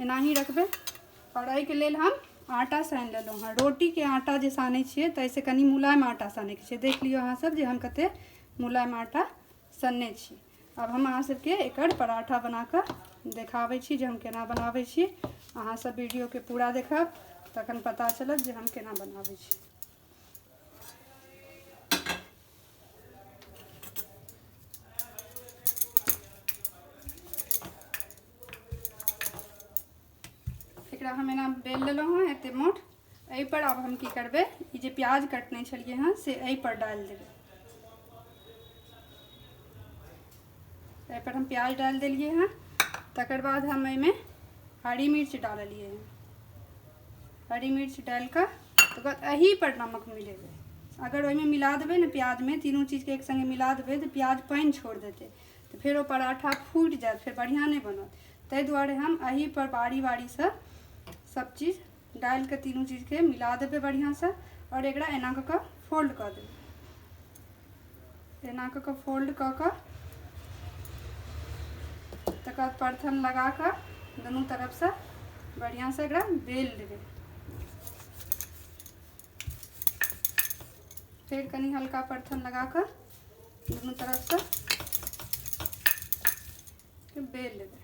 एनाही रखबै आओर एहिके लेल हम आटा सानि लेलहुँ हँ रोटीके आटा जे सानै छियै ताहिसँ कनि मुलायम आटा सानैके छै देख लियौ अहाँसभ जे हम कतेक मुलायम आटा सनने छी आब हम अहाँसभके एकर पराठा बना कऽ देखाबै छी जे हम केना बनाबै छी अहाँसभ वीडियोके पूरा देखब तखन पता चलत जे हम केना बनाबै छी एकरा हम एना बेल लेलहुँ हँ एते मोट एहिपर आब हम की करबै ई जे प्याज कटने छलियै हँ से एहिपर डालि देबै एहिपर हम प्याज डालि देलियै हँ तकर बाद हम एहिमे हरी मिर्च डाललियै हँ हरी मिर्च डालि कऽ तकर बाद एहीपर नमक मिलेबै अगर ओहिमे मिला देबै ने प्याजमे तीनू चीजके एक सङ्गे मिला देबै तऽ प्याज पानि छोड़ि देतै तऽ फेर ओ पराठा फूटि जायत फेर बढ़िआँ नहि बनत ताहि दुआरे हम एहिपर बारी बारीसँ सब चीज डालि कऽ तीनू चीजके मिला देबै बढ़िआँसँ आओर एकरा एना कऽ कऽ फोल्ड कऽ देबै एना कऽ कऽ फोल्ड कऽ कऽ तकर बाद परथन लगा कऽ दुनू तरफसँ बढ़िआँसँ एकरा बेल लेबै फेर कनि हल्का परथन लगा कऽ दुनू तरफसँ बेल लेबै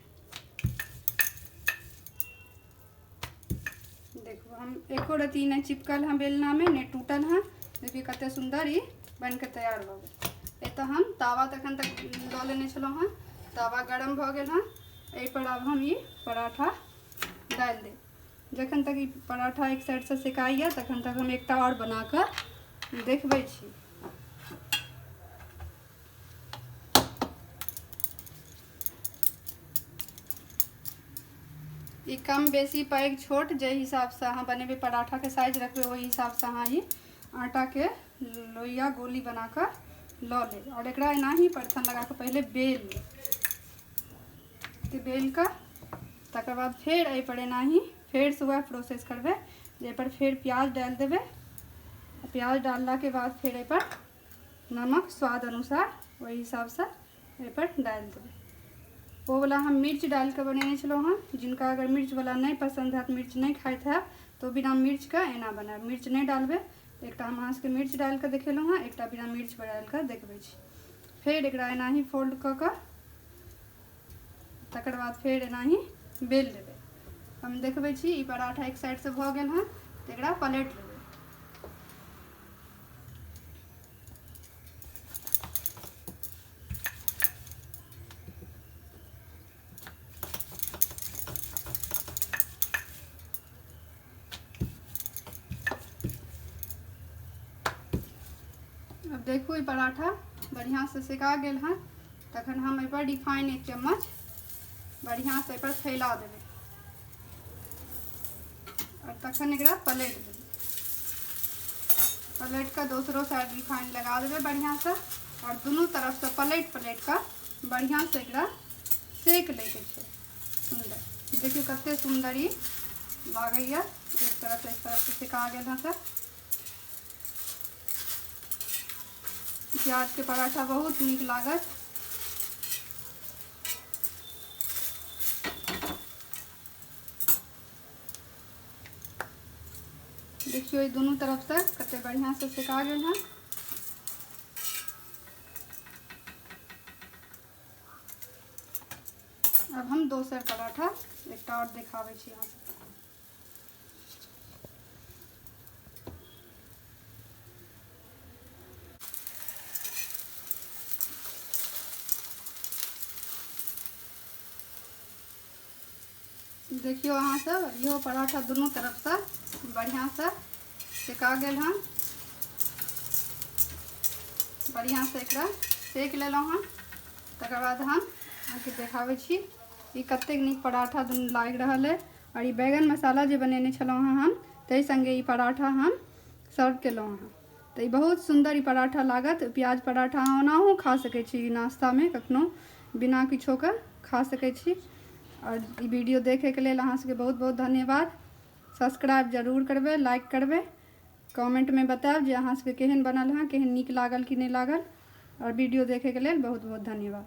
देखू हम एको रती नहि चिपकल हँ बेलनामे नहि टूटल हँ देखिए कतेक सुन्दर ई बनिके तैयार भऽ गेल एतऽ हम तावा तऽ एखन तक लऽ लेने छलहुँ हँ तावा गरम भऽ गेल हँ एहिपर आब हम ई पराठा डालि देब जखन तक ई पराठा एक साइडसँ सेकाइए तखन तक हम एकटा आओर बना कऽ देखबै छी ई कम बेसी पैघ छोट जे हिसाबसँ अहाँ बनेबै पराठाके साइज रखबै ओहि हिसाबसँ अहाँ ई आटाके लोहिया गोली बना कऽ लऽ लेब आओर एकरा एनाही परथन लगा कऽ पहिले बेल लेब बेल कऽ तकर बाद फेर एहि पर एनाही फेर से वह प्रोसेस करबे जे पर फेर प्याज डाल देबे प्याज डालला के बाद फेर एहि पर नमक स्वाद अनुसार वही हिसाब से एहि पर डाल देबे वो वाला हम मिर्च डाल के बनेने छलो हन जिनका अगर मिर्च वाला नहीं पसंद है मिर्च नहीं खाइत है तो बिना मिर्च के एना बना मिर्च नहीं डालबे एक हम अहाँ सबके मिर्च डाल के देखेलो हँ एक बिना मिर्च डाल के देखबे फिर एक एनाही फोल्ड क के तकर बाद फेर एनाही बेल लेबै हम देखबै छी ई पराठा एक साइडसँ भऽ गेल हँ तऽ एकरा पलटि लेबै अब देखू ई पराठा बढ़िआँसँ सेका गेल हँ तखन हम एहिपर रिफाइन एक चम्मच बढ़िआँसँ एहिपर फैला देबै आओर तखन एकरा पलटि देबै पलटि कऽ दोसरो साइड रिफाइन लगा देबै बढ़िआँसँ आओर दुनू तरफसँ पलटि पलटि कऽ बढ़िआँसँ एकरा सेक लैके छै सुन्दर देखियौ कते सुन्दर ई लागैए एक तरफ एक तरफ से सिका गेल हँ सर प्याज के पराठा बहुत नीक लागत देखियो ई दुनू तरफ से कते बढ़िया से सिका गेल हँ अब हम दोसर पराठा एक और दिखावे अहाँ देखियो अहाँ सब इहो पराठा दोनों तरफ से बढ़िया से सेका गेल हन बढ़िया से एक सेक लेलहुँ हन तकर बाद हम अहाँके देखाबै छी ई कतेक नीक पराठा दुनू लागि रहल अइ आओर ई बैगन मसाला जे बनेने छलहुँ हँ हम ताहि सङ्गे ई पराठा हम सर्व केलहुँ हँ तऽ ई बहुत सुन्दर ई पराठा लागत प्याज पराठा अहाँ ओनाहो खा सकै छी नाश्तामे कखनो बिना किछोके खा सकै छी आओर ई वीडियो देखैके लेल अहाँ सबके बहुत बहुत धन्यवाद सब्सक्राइब जरूर करबै लाइक करबै कमेंटमे बतायब जे अहाँ सबके केहन बनल हँ केहन नीक लागल कि नहि लागल आओर वीडियो देखैके लेल बहुत बहुत धन्यवाद